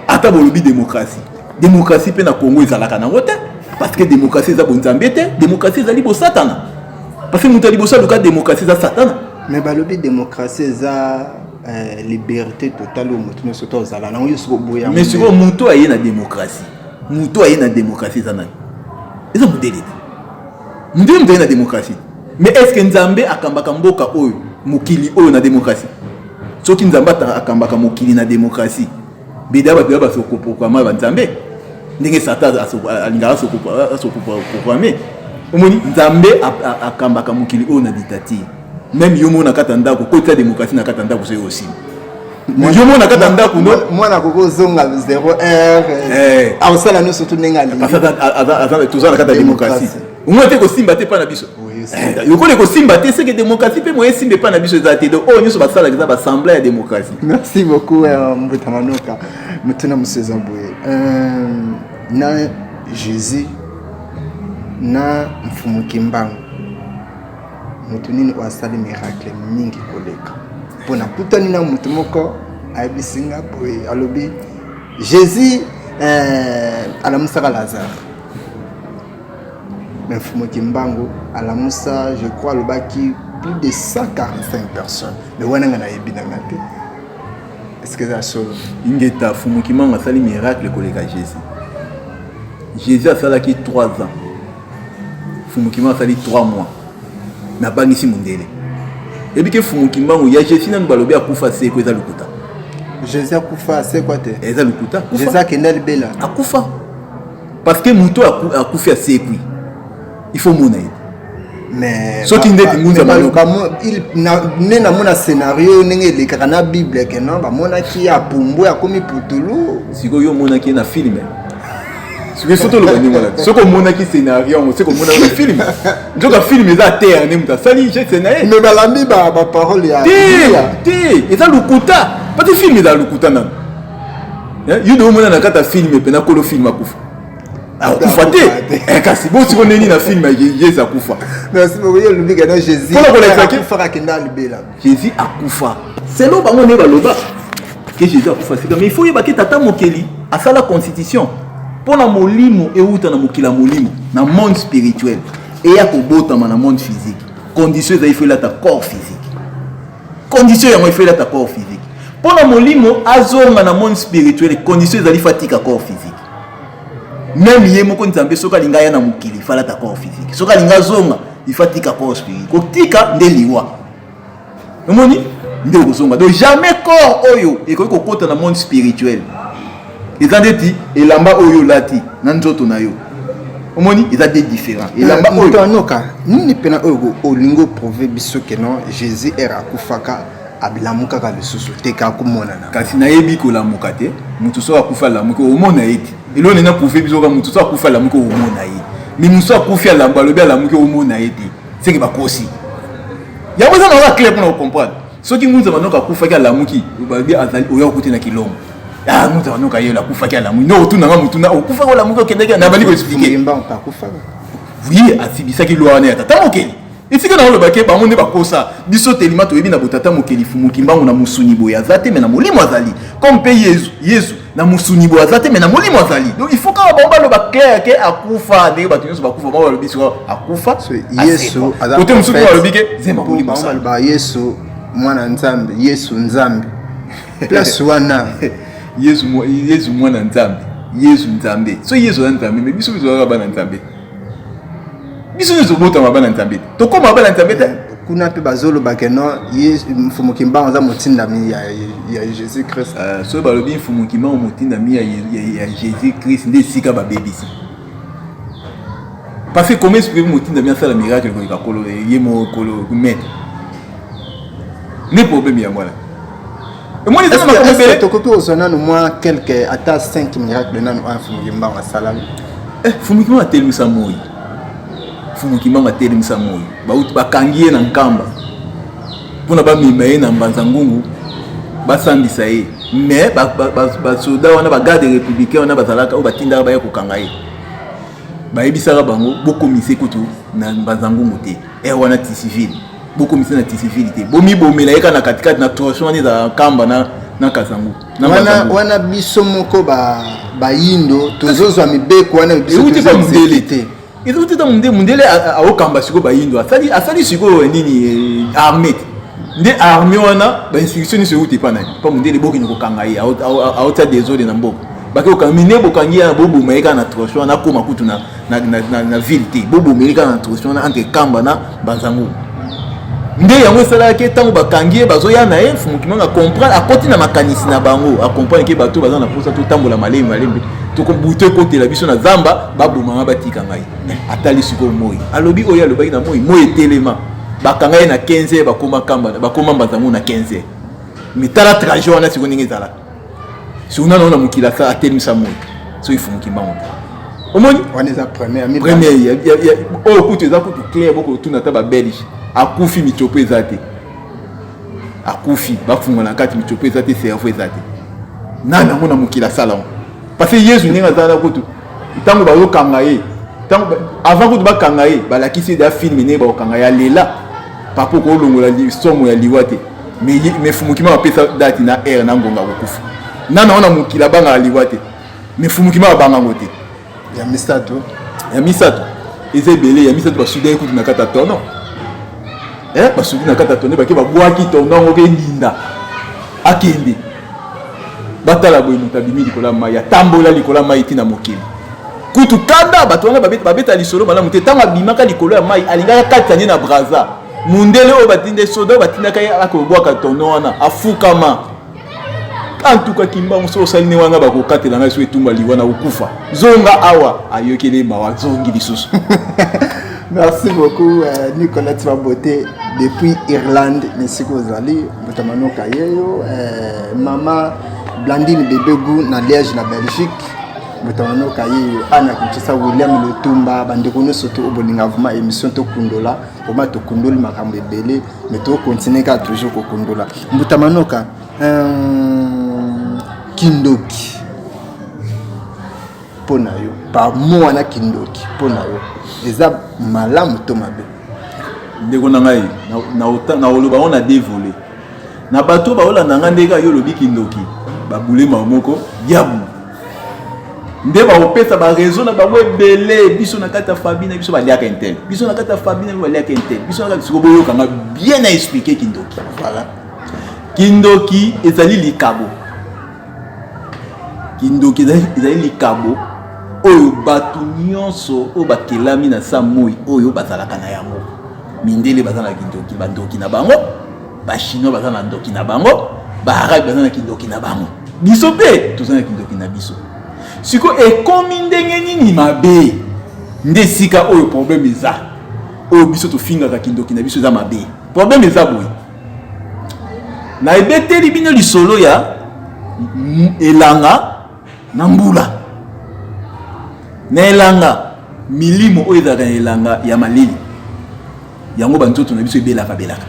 ata bolobi démocratie démocratie mpe na congo ezalaka nango te parce que démocratie eza bonzambe te démocratie ezali bosatana parce que moto ya liboso aluka démocratie eza satana mais balobi démocratie eza euh, liberté totale oyo moto nyonso to ozala nango yo soki oboya mais sikoyo moto aye na démocratie moto aye na démocratie eza nani eza modele te ndio mzali na demokrasi mais est ce que nzambe akambaka mboka oyo mokili oyo na demokrasi soki nzambe akambaka mokili na demokrasi beda bato ya basokoprograme banzambe ndenge satan alingaka asokoprograme omoni nzambe akambaka mokili oyo na dictature meme yo moko na kati ya ndako koti ya demokratie na kati ya ndako soki osili yo moko na kati ya ndako no mwana akoki ozonga 0 heure eh. akosala no surtout ndenge alingitoza na kati ya demokratie omoi te kosimba te epai na biso eh, lokola ekosimba te seke demokratie mpe moye esimba epai na biso eza te donc oyo nyonso basalaka eza basembla ya demokratie merci beaucoup euh, mbuta manoka motuna mosusu eza boye euh, na jésus na mfumu kimbangu moto nini oyo asali miracle mingi koleka mpo nakutani na moto moko ayebisi nga boye alobi jésus eh, alamusaka lazare me mfumo kimbangu alamusa je crois alobaki plus de 145 personnes me wana nga nayebi na nga te est-ce que eza solo ingeta mfumo kimbangu asali miracle koleka jésus jésus asalaki 3 ans Fumu Kimbangu asali 3 mois na bangisi mundele ebi ke Fumu Kimbangu ya Jesse nanu balobi akufa seko eza lukuta Jesse akufa seko te eza lukuta Jesse akenda libela akufa parce que moto akufi asekwi il faut mona ye mais soki ndeti ngunza baloka ne namona scenario ndenge elekaka na bible ke non bamonaki apumbwe akomi putulu sikoyo omonaki ye na filme soki soki toloba ndenge wana soki omonaki scénario yango soki omonaki na film nzoka film eza terre nde moto asali geste na ye me balandi baparole ya te eza lokuta pati film eza lokuta nano eh, yo de omona na kati ya film mpe nakolo film akufa akufa te eh, kasi bosiko ndeni na film ye eza kufa merci beaucoup ye olobika na jésus mpona kolakisa ke Jésus akufa. Selon bango nde baloba que Jésus akufa sika mais il faut yebaki tata mokeli asala constitution mpo na molimo euta na mokili ya molimo na monde spirituel eya kobotama na monde physique condition ezali faut elata corps physique condition yango faut elata corps physique mpo na molimo azonga na monde spirituel condition ezali faut atika corps physique meme ye moko nzambe soki alingi aya na mokili fala ta corps physique soki alingi azonga ifa tika corps spirituel kotika nde liwa omoni nde okozonga donc jamais corps oyo ekoki kokota na monde spirituel eza ndeti elamba oyo olati na nzoto na yo omoni eza de différent eh, elamba oyo anoka nini mpena oyo olingi oprove biso ke non jésus ere akufaka alamukaka lisusu te kaka komonana kasi nayebi kolamuka te moto soki akufi alamuki omona ye te eloko nini aprouve biso ka moto soki akufi alamuki omona ye mais moto soki akufi alamu alobi alamuki omona ye te seke bakosi yango eza naoka clair mpona kocomprendre soki ngunza manoka akufaki alamuki balobi azali oya okuti na kilongo ah, ngunza manoka yelo akufaki alamuki no otuna nga motuna okufaki olamuki okendaki nabandi koexplike oui asibisaki lwa wana ya tata mokeli esika na oloba ke bango nde bakosa biso telima toyebi na botata mokeli fumu kimbangu na mosuni boye aza te me na molimo azali comme mpe yezu yezu na mosuni boye aza te me na molimo azali donc il faut kaka bango baloba clair ke akufa ndenge bato nyonso bakufa bango balobi siko akufa yesu kote mosusu balobi ke zemba molimo baloba yesu mwana nzambe yesu nzambe place wana yesu mwana nzambe yesu nzambe so yesu aza nzambe me biso biso kaka bana nzambe biso nyonso tobotama bana nzambe te tokoma bana nzambe te kuna mpe bazolobake no ye mfumu kimbangu aza motindami ya, ya jésus christ uh, ah, soki balobi mfumu kimbangu motindami ya, ya, ya jésus christ nde esika babebisi parce que comment expliquer motindami asala miracle koleka kolo ye mokolo maître nde problème yango wana tokoki kozwa nanu mwa quelque ata 5 miracle nanu oyo mfumu kimbangu asalami eh, mfumu kimbangu atelemisa moi mfumu kimbangu atelemisa moi bauti bakangi ye na nkamba mpona bamema ye na mbanza ngungu basambisa ye mais basoda wana bagarde républicain wana bazalaka oyo batindaka baya kokanga ye bayebisaka bango bokomisa kutu na mbanza ngungu te ere eh, wana ti civile bokomisa na tisifili te bomibomela ye kaka na katikati na torsion wana ezala nkamba na, na kazangu na wana, mazangu. wana biso moko ba bayindo tozozwa mibeko wana biso euti pa tozozwa mundele te te ezouti ta mundele mundele a- a- aokamba sikoyo bayindo asali asali sikoyo eh, nini eh, arme te nde arme wana bainstitution nyonso euti epa nani pa mundele bokende kokanga ye ao- ao- ao- aotya desode na mboka bake kokanga mine bokangi yana boboma ye kaka na troche wana akoma kutu na, na, na, na, na ville te bobomeli kaka na troche wana entre kamba na banzango nde yango esalaka ke ntango bakangi ye bazoya na ye mfumu kimanga comprendre akoti na makanisi na bango acomprendre ke bato baza na mposa totambola malemi malemi butu ekotela biso na zamba babomanga batika ngai atali sikoyo moi alobi oyo alobaki na moi moi etelema bakanga ye na 15 bakoma kamba bakoma mbanzango na 15 mitala trajet wana sikoyo ndenge ezalaka soki nano na mokili aka atelemisa moi soki fumuki mbango te omoni wana eza première oyo kutu eza kutu claire bokotuna ata babelge akufi mitiopo eza te akufi bafunga na kati mitiopo eza te cerveau eza te nani yango na mokili asala yango parce que yesu ndenge azalaka kutu ntango bayokanga ye avant kutu bakanga ye balakisi ye da filme ndenge bakokanga ye alela papa okolongola somo ya liwa te me fumukima bapesa dati na aire na ngonga kokufa nana wana mokili abangaka liwa te me fumukima babanga yango te ya misato ya misato eza ebele ya misato basudaki kutu na kati ya tono eh, basudi na kati ya tono bake babwaki tono yango mpe linda akende batala boye moto abimi likolo ya mai atambola likolo ya mai ti na mokili kutu kanda bato wana babeta lisolo malamu te ntango abimaka likolo ya mai alingaka katisa nde na braza mundele oyo batinde soda oyo batindaka ye akobwaka tono wana afukama antuka kimbangu soki osali ne wana bakokatela ngai soki etumba liwa na kokufa zonga awa ayokeli ye mawa zongi lisusu merci beaucoup euh, nicolas tibabote depuis irlande na esika ozali Mbuta Mano Kayeyo, eh, mama Blandine Bebegu na Liège na Belgique. Mbuta Mano Kayeyo, Anna Kinshasa, William Lutumba, bandeko nyonso to obolinga vraiment émission to kundola, vraiment to kundoli makambo ebele, mais to continuer ka toujours ko kundola. Mbuta Manoka, euh, kindoki. mpo na yo pamo wana kindoki mpo na yo eza malamu to mabe ndeko na ngai nakoloba yango na devole na bato baolanda ngai ndenge yo olobi kindoki babulema moko yabu nde bakopesa barezo na bango ebele biso na kati ya fabi na biso baliaka intel biso na kati ya fabi na biso baliaka intel biso na kati siko boyokanga bien na explike kindoki voilà kindoki ezali likabo kindoki ezali likabo oyo bato nyonso oyo bakelami na sa moi oyo bazalaka na yango mindele baza na kindoki bandoki na bango bachinois baza na ndoki na bango baarabe baza na kindoki na bango biso mpe toza na kindoki na biso sikoyo ekomi ndenge nini mabe nde esika oyo probleme eza oyo biso tofingaka kindoki na biso eza mabe probleme eza boye na ebeteli bino lisolo ya elanga na mbula na elanga milimo oyo ezalaka na elanga ya malili yango banzoto na biso ebelaka belaka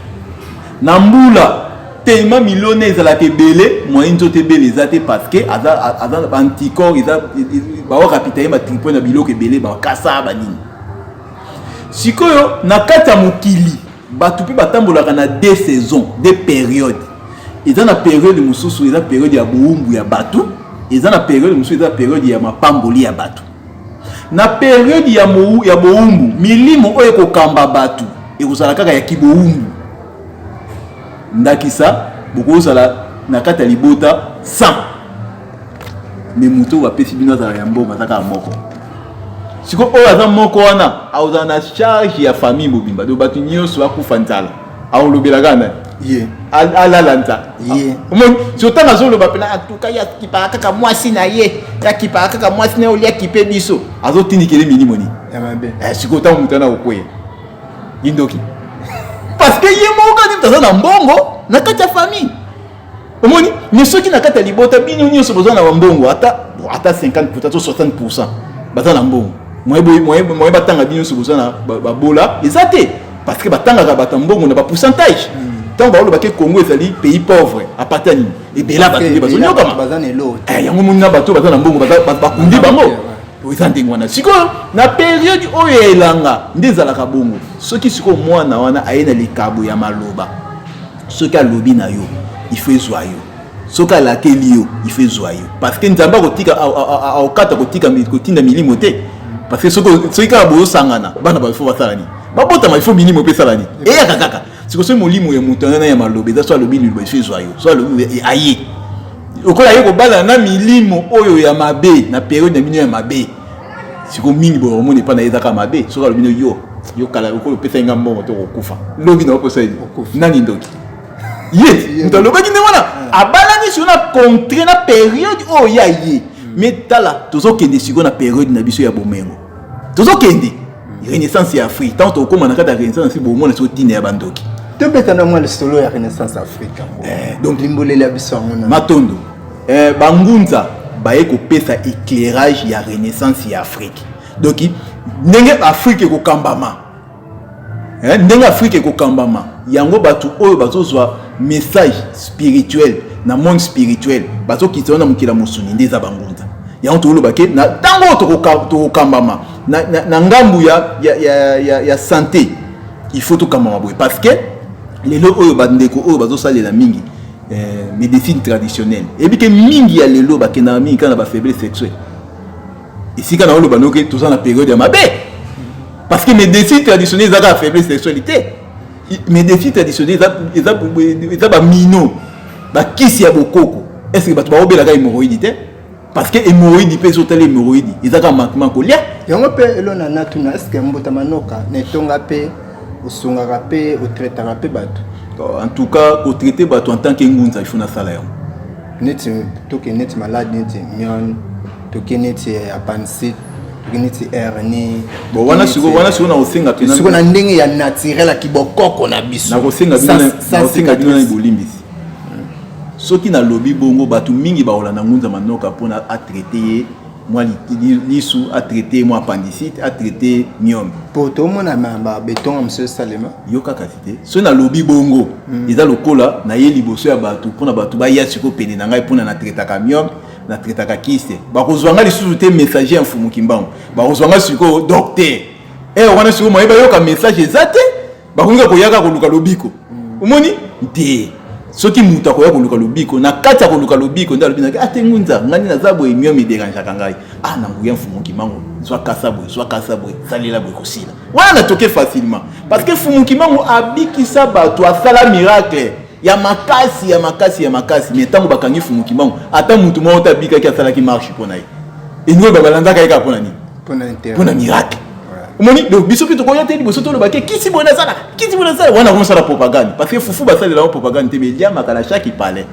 na mbula telema milona ezalaka ebele moyen nzoto ebele eza te parce que aza baanticorps eza baorapita ye batripo na biloko ebele bakasa banini sikoyo na kati ya mokili bato mpe batambolaka na de saison de periode eza na periode mosusu eza periode ya bowumbu ya bato eza na periode mosusu eza periode ya mapamboli ya bato na periode ya, mou, ya bowumbu milimo oyo ekokamba bato ekozala kaka ya kibowumbu ndakisa bokozala na kati ya libota 100 me moto oyo bapesi bino azala ya mbongo aza kaka moko siko oyo aza moko wana akozala na charge ya famille mobimba to bato nyonso bakufa nzala akolobela kaka nani ye alala nza ye omoni so ntango azoloba mpena antuka ye akipaka kaka mwasi na ye akipaka kaka mwasi na ye olia kipe biso azotindikele milimo nini eh, sikoyo ntango moto ana kokweya ye ndoki parce que ye moko kani moto aza na mbongo na kati ya famille omoni mais soki na kati ya libota bino nyonso boza na bambongo ata ata 50 pourcent to 60 pourcent baza na mbongo moye batanga bino nyonso boza na babola eza te parce que batangaka bato ya mbongo na bapourcentage ntango baolobaki congo ezali pays pauvre apata nini ebela bato nde bazonyokama eh, yango moni na bato baza na mbongo bakundi bango eza ndenge wana sikoyo na periode oyo ya elanga nde ezalaka bongo soki sikoyo mwana wana aye na likabo ya maloba soki alobi na yo il faut ezwa yo soki alakeli yo il faut ezwa yo parce que nzambe akotika akokata kotika kotinda milimo te parce que soki kaka bozosangana bana bayo fo basala nini babotama il faut milimo mpe esala nini eyaka kaka siko soki molimo ya moto wana ya maloba eza so alobi liloba il faut ezwa yo so alobi e, aye lokola aye kobalana na milimo oyo ya mabe na periode na bino ya mabe siko mingi boye omoni epa na ye ezaka mabe soki alobi no yo yo kala lokola opesaki nga mbongo to kokufa lobi na okosa ye nani ndoki ye moto alobaki nde wana abalani siko na contre na periode oyo ya ye me hmm. tala tozokende siko na periode na biso ya bomengo tozokende hmm. renaissance ya afrique ntango tokokoma na kati ya renaissance afrique bomona siko ntina ya bandoki tobeta na mwa lisolo ya renaissance afrique eh, donc limbolela biso yango matondo eh, bangunza baye kopesa éclairage ya renaissance ya afrique donc ndenge afrique ekokambama eh, ndenge afrique ekokambama yango bato oyo bazozwa message spirituel na monde spirituel bazokitisa wana mokila mosuni nde eza bangunza yango tokoloba ke na ntango oyo tokokambama na, na, na ngambu ya, ya, ya, ya, ya sante il faut tokambama boye parce que lelo oyo bandeko oyo bazosalela mingi eh, medecine traditionnelle eyebi ke mingi ya lelo bakendaka mingi kaka na bafaiblesse sexuelle esika na oloba noke toza na periode ya mabe parce que medecine traditionnelle eza kaka faiblesse sexuelle te medecine traditionnelle eza bamino bakisi ya bokoko estce bato baobelaka hémoroïde te parce que hémorroïde mpe ezotala hémorroïde ezaka manquement kolia yango mpe elona natuna estce mbuta manoka na etonga mpe osungaka mpe otraitaka mpe bato euh, en tout cas kotraite bato en tant que ngunza ifo nasala yango neti toke neti malade neti mion toke neti eh, apansite toke neti hernie bon wana siko wana siko na kosenga mpe siko na ndenge ya naturel ya kibokoko na biso nakosenga bino na bolimbisi Soki na lobi bongo batu mingi ba olanda ngunza manoka pona a traite ye mwa lisu a traite mwa appendicite a traite miome po to mona ma ba beton am se salema yo kaka te so na lobi bongo mm. eza lokola na ye liboso ya batu pona batu ba ya siko pene na ngai pona na traite ka miome na traite ka kiste ba ko zwanga lisusu te messager ya mfumu kimbangu ba ko zwanga siko docteur eh wana siko moyeba yo ka message ezate bakoki kaka koyaka koluka lobiko mm. omoni nte soki moto akoya koluka lobiko na kati ya koluka lobiko nde alobi naki ate ah, ngunza ngai nde naza boye mio miderangeaka ngai a ah, na nguya mfumu kimango zwa kasa boye zwa kasa boye salela boye kosila wana natoke facilement parce que mfumu kimango abikisa bato asala miracle ya makasi ya makasi ya makasi me ntango bakangi mfumu kimango ata motu moko te abikaki asalaki marche mpo na ye elingi oyo babalandaka ye kaka mpo na nini mpo na miracle omoni donc biso mpe tokoya te liboso toloba ke kisi boye nasala kisi boye nasala wana komosala propagande parce que fufu basalela yango propagande te mais eliamaka na chaque palais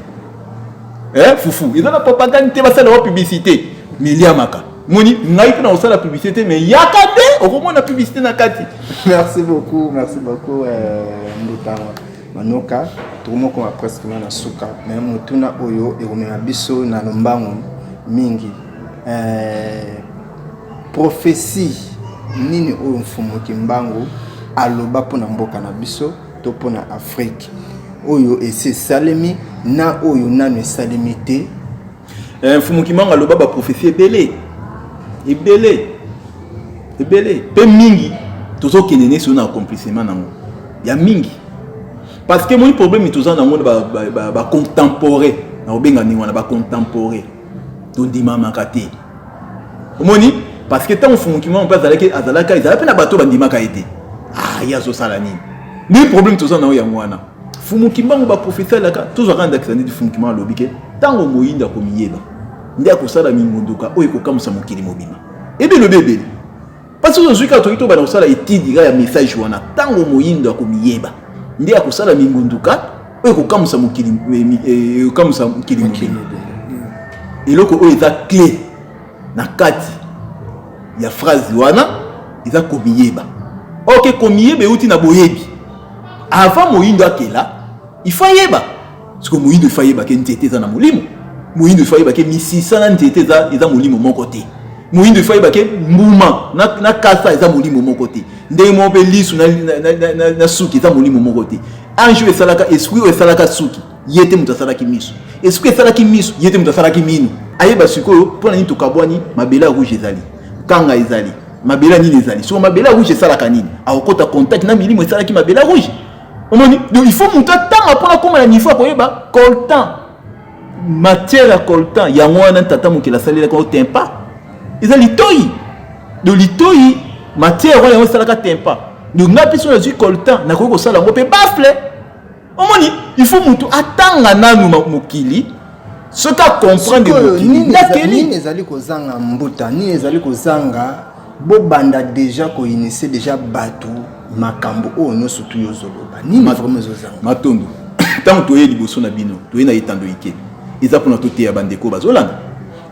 eh, fufu eza na propagande te basala yango publicité mais eliamaka moni ngai mpe nakosala publicité te mais yaka nde okomona publicité na kati merci beaucoup merci beaucoup euh, mbutanga manoka tokomokoma presque na suka mais motuna oyo ekomema biso na lombango mingi eh, prophetie nini oyo mfumu kimbangu aloba mpo na mboka na biso to mpo na afrike oyo esi esalemi na oyo nano esalemi te eh, mfumu kimbangu aloba baprofesi ebele ebele ebele mpe mingi tozokende neso na accomplissement nango ya mingi parce que moni problème toza nango na bacontemporain ba, ba na kobenga ndenge wana bacontemporain tondimamaka te omoni parce que ntango fumukimama mpe azalaki azalaka ezala mpe na bato bandimaka ye te ah ye azosala nini nde problème toza na yo yango wana fumukimbangu baprofesa elaka tozwaka ndakisa neti fumukimbangu alobi ke ntango moyinda akomiyeba nde akosala mingunduka oyo ekokamwisa mokili mobima ebe elobi ebele Parce que ozwi kaka toki tobanda kosala etide kaka ya message wana ntango moyindo akomiyeba nde akosala mingunduka oyo ekokamwisa mokili ekokamwisa mokili mokili eloko oyo eza clé na kati ya phrase wana eza komiyeba ok komiyeba euti na boyebi avant moyindo akela il faut ayeba siko moyindo efa yebake nzete eza na molimo moyindo efa yebake misisa na nzete eza, eza molimo moko te moyindo efa yebake mbuma na, na kasa eza molimo moko te ndenge moko mpe lisu na, na, na, na, na, na suki eza molimo moko te ange oyo esalaka esprit oyo esalaka suki ye te moto asalaki miso esprit esalaki miso ye te moto asalaki mino ayeba sikoyo mpo na nini tokabwani mabele ya rouge ezali kanga ezali mabele ya nini ezali soko mabele ya rouge esalaka nini akokota contact na milimo esalaki mabele ya rouge omoni donc il faut moto atanga mpona akoma na niveau ya koyeba coltan matière ya coltan yango wana tata mokili asalelaka otempa eza litoi donc litoi matière wana yango esalaka tempa donc ngai mpe soki nazwi coltan nakoki kosala yango mpe bafle omoni il faut moto atanga nanu mokili soki akomprendre mokili nakeli nini ezali kozanga mbuta nini ezali kozanga Bo banda dejà ko initie dejà batu makambo oyo nioso tu yo zoloba nini vraiment ezo zanga matondo tango toye liboso na bino toye na etando ike eza pona toteya ba ndeko bazolanda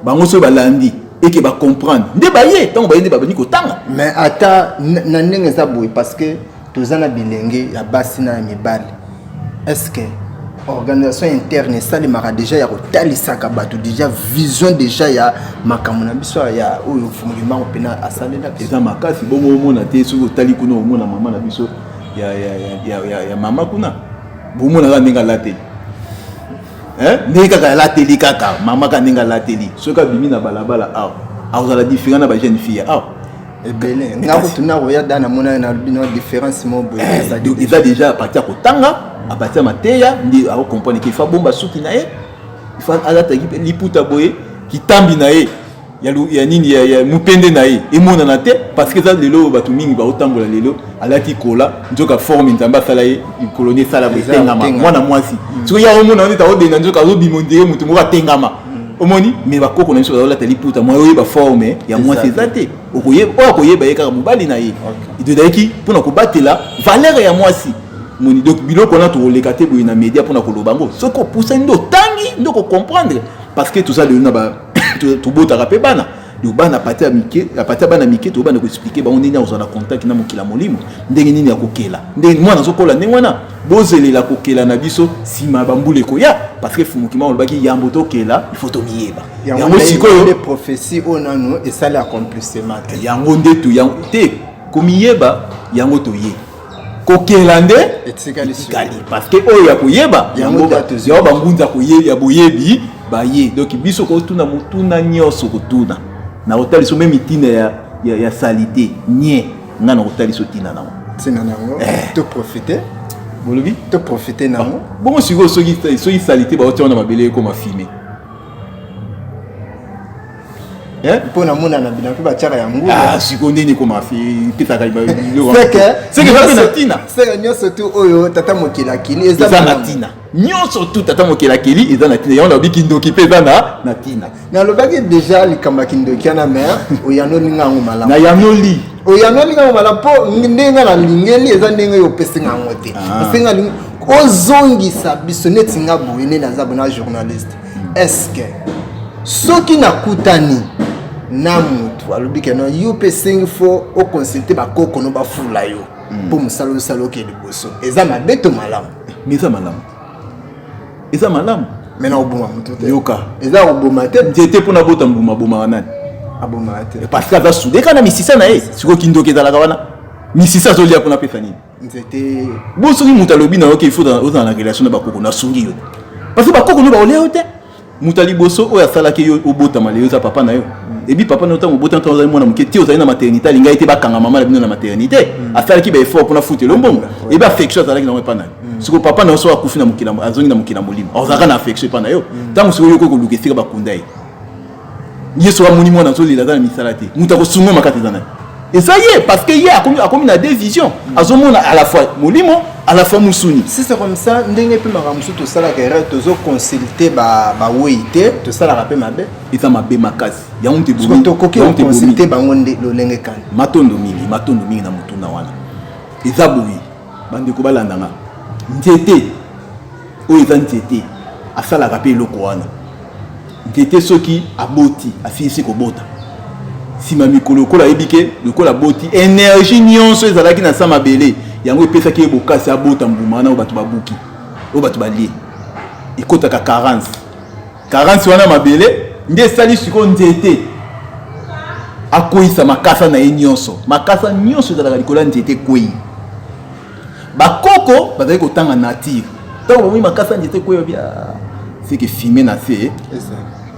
bango soki balandi eke ba comprendre nde baye tango baye nde babandi kotanga mais ata na ndenge eza boye parce que toza na bilenge ya basi na ya mibali estce organisation interne esalemaka deja ya kotalisaka bato deja vision deja ya makambo na biso ya oyo fumulimbango mpena asalelaki eza makasi bongo omona te soki otali kuna omona mama na biso ya, ya, ya, ya, ya mama kuna bomona kaka ndenge alateli ndenge kaka alateli kaka mama kaka ndenge alateli soki abimi na balabala awa akozala diferent na bajeune fille awa ebele nga kutu nakoya da namonani na bino différence mo boye eza déjà apati ya kotanga apati ya mateya nde akokomprane ke fa bomba suki na ye fa alataki mpe liputa boye kitambi na ye ya nini ya mupende na ye emonana te parce que eza lelo bato mingi baotambola lelo alati kola nzoka forme nzambe asala ye likolo nde esala boye etengama mwana mwasi mm. soki ya omona nde taodenda nzoka azobima ondire moto moko atengama omoni me bakoko na biso bazolata liputa mwa oyeba forme ya mwasi eza te oyo akoyeba ye kaka mobali na ye ezalaki mpona kobatela valere ya mwasi moni donc biloko wana tokoleka te boye na média mpona koloba yango soki opusani nde otangi nde okokomprendre parce que toza lelo na tobotaka mpe bana donc bana pate ya mike ya pate ya bana mike tokoki banda koexplike bango ndenge akozala na contact na mokili ya molimo ndenge nini ya kokela ndenge mwana azokola ndenge wana bozelela kokela na biso nsima ya bambula ekoya parce que fumukima olobaki yambo tokela ifo tomiyeba yango sikoyo prophetie oyo nano esali accomplissement te yango nde te komiyeba yango toye kokela nde etikali parce que oyo ya koyeba yango yango bangunza ya boyebi baye donc biso kotuna motuna nyonso kotuna na kotalisa meme ntina ya, ya, ya salite nye ngai na kotalisa ntina nango ntina nango eh. to profite bolobi to profite nango ah, bongo sikoyo soki salite baotia wana mabele ekoma fime Eh? mpo na mona na bina mpe batiaka ya ngulu ah, siko ndeni ekoma petaka ntina seke nyonso tu oyo tata mokili akili eza na ntina nyonso tu tata mokili akili eza na ntina yango nalobi kindoki mpe eza na ntina nalobaki déjà likambo ya kindoki wana mare oyanoli nga yango malamu nayanoli oyanoli nga yango malamu mpo ndenge nga nalingeli eza ndenge oyo opesi nga yango te ah. ose nga ozongisa biso neti nga boye nde naza bona journaliste eske soki nakutani na motu alobi ke non yo mpe esengi fo oconsulte bakoko no bafula yo mpo hmm. mosala osala oke liboso eza mabe to malamu me eza malamu eza malamu me na koboma motu te yoka eza koboma te nzete mpo nabota mbuma abomaka nani abomaka te parce que aza sude kaka na misisa na ye sikoyo kindoki ezalaka wana misisa azolia mpo napesa nini nzete bo soki moto alobi na yo ke ifo ozala na relation na bakoko nasungi yo parce que bakoko no baolia yo te moto ya liboso oyo asalaki yo obotama leyo eza papa na yo ebi papa na yo ntango obotama ntango ozali mwana moke te ozali na maternité alingaki te bakanga mama na bino na maternité mm. asalaki baeffort mpona futelo mbongo ebi affection azalaki na yango epa na yo mm. siko papa na yo soki akufi na mokili azongi na mokili ya molimo azalaka na affection epa na yo mm. ntango sikoyo yokoki koluka esika bakunda ye yesu amoni mwana azolela aza na misala te moto akosunga makata eza naye eza ye parce que ye akomi, akomi na deux vision azomona à la fois molimo à la fois mosuni si c'est comme ça ndenge mpe makambo mosusu tosalaka erreur tozoconsulte bawei te tosalaka mpe mabe eza mabe makasi yango nte tokoki oconsulte bango nde lolenge kani matondo mingi matondo mingi na motuna wana eza boye bandeko balanda nga nzete oyo eza nzete asalaka mpe eloko wana nzete soki aboti asilisi kobota nsima mikolo lokola ayebi ke lokola aboti energie nyonso ezalaki na sa mabele yango epesaki ye bokasi abota mbuma wana oyo bato babuki oyo bato balie ekotaka carence Carence wana mabele nde esali sikoyo nzete akweyisa makasa na ye nyonso. Makasa nyonso ezalaka likolo ya nzete ekwei. Bakoko bazali kotanga nature ntango bamoni makasa ya nzete ekwei babi ah, seke fime na se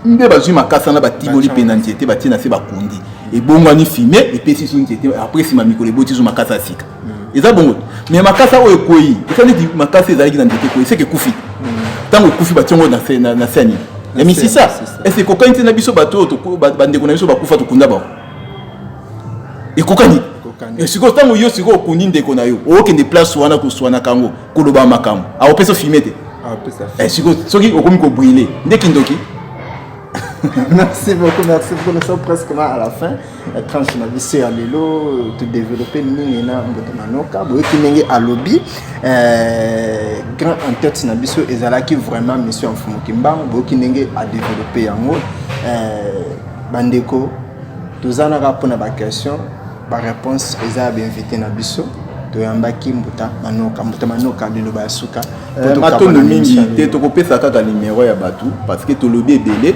nde bazwi makasa na batimoli mpe na nzete batie na se bakundi ebongwani fime epesi so nzete apres nsima mikolo eboti so makasa ya sika eza bongo me makasa oyo ekwei eza neti makasa ezalaki na nzete ekwei seke ekufi ntango ekufi batie yango na se ya nini ya misisa ese ekokani ntina biso bato oyo bandeko na biso bakufa tokunda bango ekokani eh, sikoyo ntango yo sikoyo okundi ndeko na yo okende place wana koswanaka yango koloba makambo akopesa ofime te eh, sikoyo soki okomi kobrile nde kindoki merci beaucoup merci beaucoup nous sommes presque là à la fin na tranche na biso ya lelo todevelope mingi na mboto na noka boyoki ndenge alobi eh, grand en tête na biso ezalaki vraiment mission ya mfumu kimbangu boyoki ndenge adevelope yango eh, bandeko toza naka mpona baquestion baréponse eza ya bainvité na biso toyambaki mbuta manoka mbuta manoka liloba ya suka eh, matondo mingi te tokopesa kaka numero ya bato parce que tolobi ebele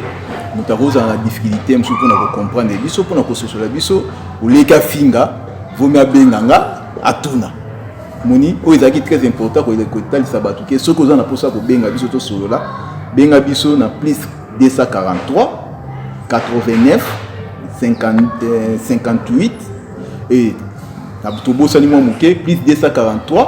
moto akozala na difficulté mosusu mpona kocomprendre biso mpona kososola biso oleki afinga vomi abenga nga atuna moni oyo ezalaki très important kotalisa bato ke soki oza na mposa ya kobenga biso tosolola benga biso na plus 243 89 58 e tobosani mwa moke plus 243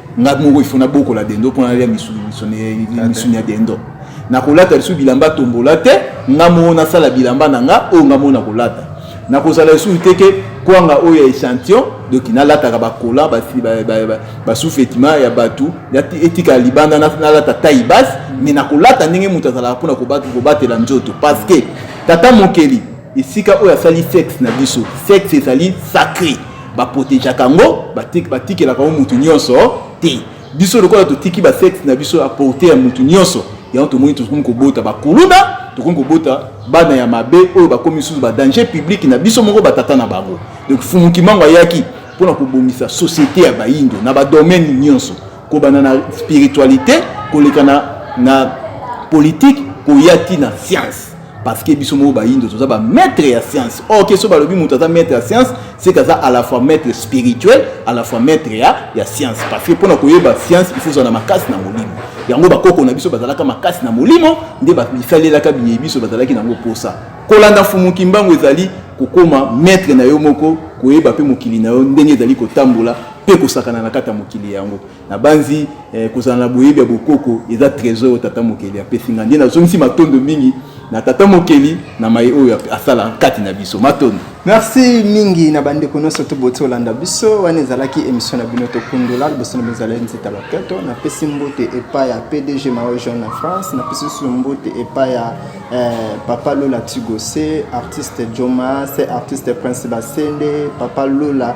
nga moko ifo nabokola dendo mpo nalia misuni ya dendo nakolata lisusu bilamba tombola te nga moko nasala bilamba na nga oyo nga moko nakolata nakozala lisusu te ke kwanga oyo ya echantillon donc nalataka bakola basufetima ya bato etikala libanda nalata tai base mais nakolata ndenge moto azalaka mpona kobatela nzoto parce que tata mokeli esika oyo asali sexe na biso sexe ezali sacré baprotegeaka yango batikelaka yango motu nyonso te biso lokola totiki basexe na biso ya porte ya motu nyonso yango tomoni tokomi kobota bakuluna tokomi kobota bana ya mabe oyo bakomi susu badanger public na biso moko batata na bango donc fumukimango ayaki mpona kobongisa société ya bayindo na badomaine nyonso kobanda na spiritualité koleka na, na politique koya ti na science parce que biso moko bayindo toza ba maître ya science or ke so balobi moto aza maître ya science c'est kaza à la fois maître spirituel à la fois maître ya ya science parce que mpona koyeba science il faut ozala na makasi na molimo yango bakoko na biso bazalaka makasi na molimo nde bisalelaka biye biso bazalaki na yango mposa kolanda fumu kimbangu ezali kokoma maître na yo moko koyeba mpe mokili na yo ndenge ezali kotambola mpe kosakana na kati ya mokili yango nabanzi eh, kozala na boyebi ya bokoko eza trésor oyo tata mokeli apesi ngai nde nazongisi matondo mingi na tata mokeli na maye oyo asala kati na biso matondo merci mingi na bandeko nyonso to boti olanda biso wana ezalaki émission na bino tokundola liboso na bozala nzeta loketo napesi mbote epai ya pdg mao jean na france napesi lisusu mbote epai ya eh, papa lola tigose artiste joma se artiste prince basende papa lola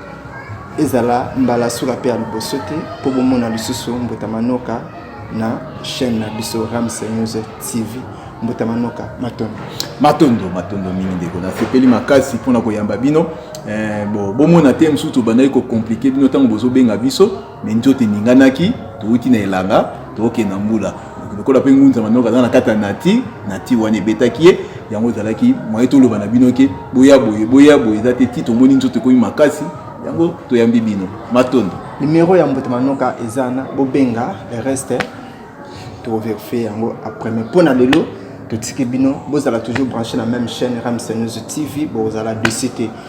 ezala mbala suka mpe ya liboso te mpo bomona lisusu mbuta manoka na chaîne na biso ramse news tv mbuta manoka matondo matondo matondo mingi ndeko nasepeli makasi mpona koyamba bino eh, bo, bomona te mosusu tobandaki kokomplike bino ntango bozobenga biso Mais nzoto eninganaki, towuti na elanga, tokende na mbula. Lokola mpe ngunza manoko aza na kati ya nati, nati wana ebetaki ye, yango ezalaki moyen toloba na bino ke boya boye, boya boye eza te, ti tomoni nzoto ekomi makasi, yango toyambi bino. Matondo. Numero ya mbuta manoka eza na bobenga le reste toverifie yango après mais mpo na lelo totiki bino bozala toujours branché na même chaîne ramsenews tv bozala desite